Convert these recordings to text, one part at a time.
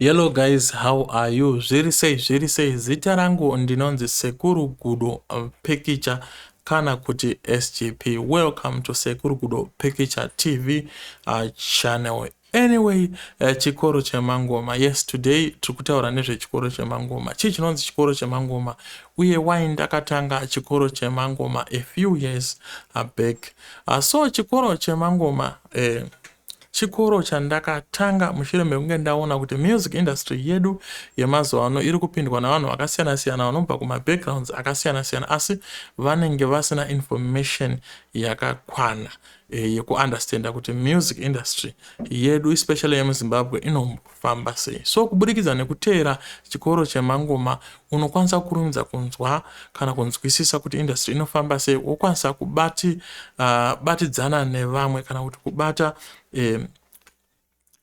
Hello guys, how are you? Zviri sei, zviri sei. Zita rangu ndinonzi Sekuru Gudo uh, Pikicha kana kuti SGP. Welcome to Sekuru Gudo Pikicha TV uh, channel Anyway, eh, chikoro chemangoma. Yes, today tiri kutaura nezvechikoro chemangoma. Chii chinonzi chikoro chemangoma? Uye why ndakatanga chikoro chemangoma a few years back. Uh, so chikoro chemangoma eh, chikoro chandakatanga mushure mekunge ndaona kuti music industry yedu yemazuva ano iri kupindwa navanhu vakasiyana siyana vanobva kumabackgrounds akasiyana siyana asi vanenge vasina information yakakwana eh, yekuunderstanda kuti music industry yedu especially yemuzimbabwe inofamba sei so kuburikidza nekuteera chikoro chemangoma unokwanisa kurumidza kunzwa kana kunzwisisa kuti industry inofamba sei wokwanisa kubati uh, batidzana nevamwe kana kuti kubata eh,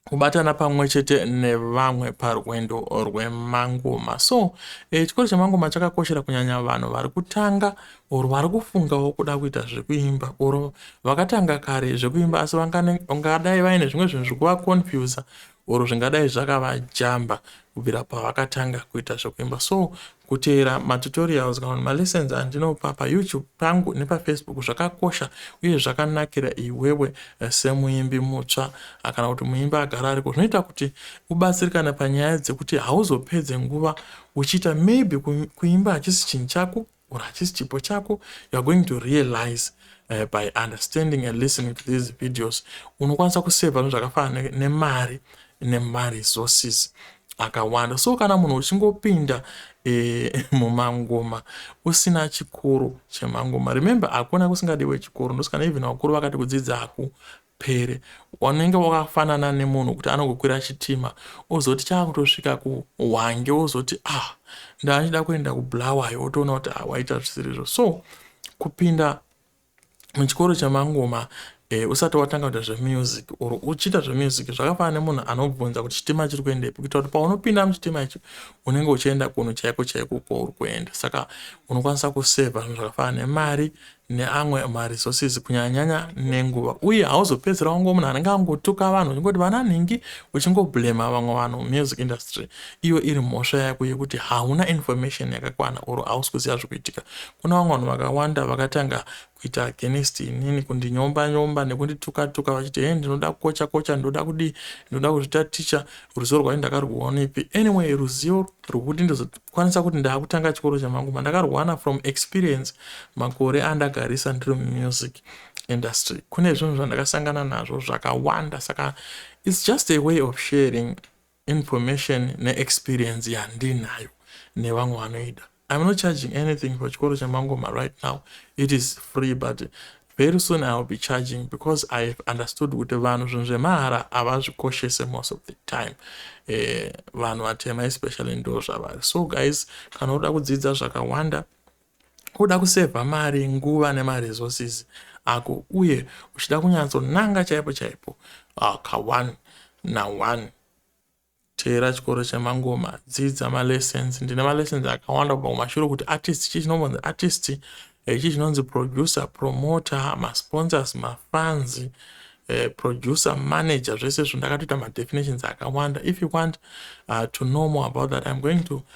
kubatana pamwe chete nevamwe parwendo rwemangoma so e, chikoro chemangoma chakakoshera kunyanya vanhu vari kutanga or vari kufungawo kuda kuita zvekuimba or vakatanga kare zvekuimba asi vangadai vaine zvimwe zvinhu zviri kuvaconfusa or zvingadai zvakavajamba kubvira pavakatanga kuita zvekuimba so Kuteera matutorials kana kuti malessons andinopa paYouTube pangu nepaFacebook zvakakosha uye zvakanakira iwewe eh, semuimbi mutsva ah, kana kuti muimbi agara ariko zvinoita kuti ubatsirikane panyaya dzekuti hauzopedze nguva uchiita maybe kuimba hachisi chinhu chako or hachisi chipo chako youare going to realize uh, by understanding and listening to these videos unokwanisa kuseva zvakafanana nemari nemari resources akawanda so kana munhu uchingopinda e, mumangoma usina chikoro chemangoma remember hakuna kusingadiwe chikoro ndosikana even vakuru vakati kudzidza haku pere wanenge wakafanana nemunhu kuti anokukwira chitima ozoti chaakutosvika kuhwange ozoti ah ndaachida kuenda kublawayo otoona kuti ah, waita zvisirizvo so kupinda muchikoro chamangoma eh, usati watanga kuita zvemusic or uchiita zvemusic zvakafanana nemunhu anobvunza kuti chitima chiri kuendepi kuitira kuti paunopinda muchitima icho unenge uchienda kunhu chaiko chaiko kwauri kuenda saka unokwanisa kusevha zvinhu zvakafanana nemari neamwe maresources kunyanyanyanya nenguva uye hauzopedzera wango munhu anenge angotuka vanhu uchingoti vana nhingi uchingoblema vamwe vanhu music industry iyo iri mhosva yako yekuti hauna information yakakwana or hausi kuziva zvikuitika Kune vamwe vanhu vakawanda vakatanga kuita against inini kundinyomba nyomba nekundituka tuka vachiti hee ndinoda kukocha kocha ndoda kudii ndoda kuzvita ticha ruzivo rwacho ndakarwuonepi anyway ruzivo rwekuti ndizokwanisa kuti ndakutanga chikoro chamanguma ndakarwana from experience makore andagarisa ndiri mumusik industry kune zvinhu zvandakasangana nazvo zvakawanda saka its just a way of sharing Information ne experience yandinayo nevamwe vanoida. I'm not charging anything for chikoro chaMangoma right now. It is free but very soon I'll be charging because I have understood kuti vanhu zvinhu zvemahara havazvikoshese most of the time. Eh, vanhu vatema especially ndo zvavari. So guys, kana uda kudzidza zvakawanda Kuda kusevha mari, nguva nemaresources ako uye uchida kunyatsonanga chaipo chaipo ka one na one teera chikoro chemangoma dzidza malessons ndine malessons akawanda kubva kumashure kuti artist chii chinombonzi artist eh, chii chinonzi producer promoter masponsors mafans eh, producer manager zvese izvo ndakatoita madefinitions akawanda if you want uh, to know more about that iam going to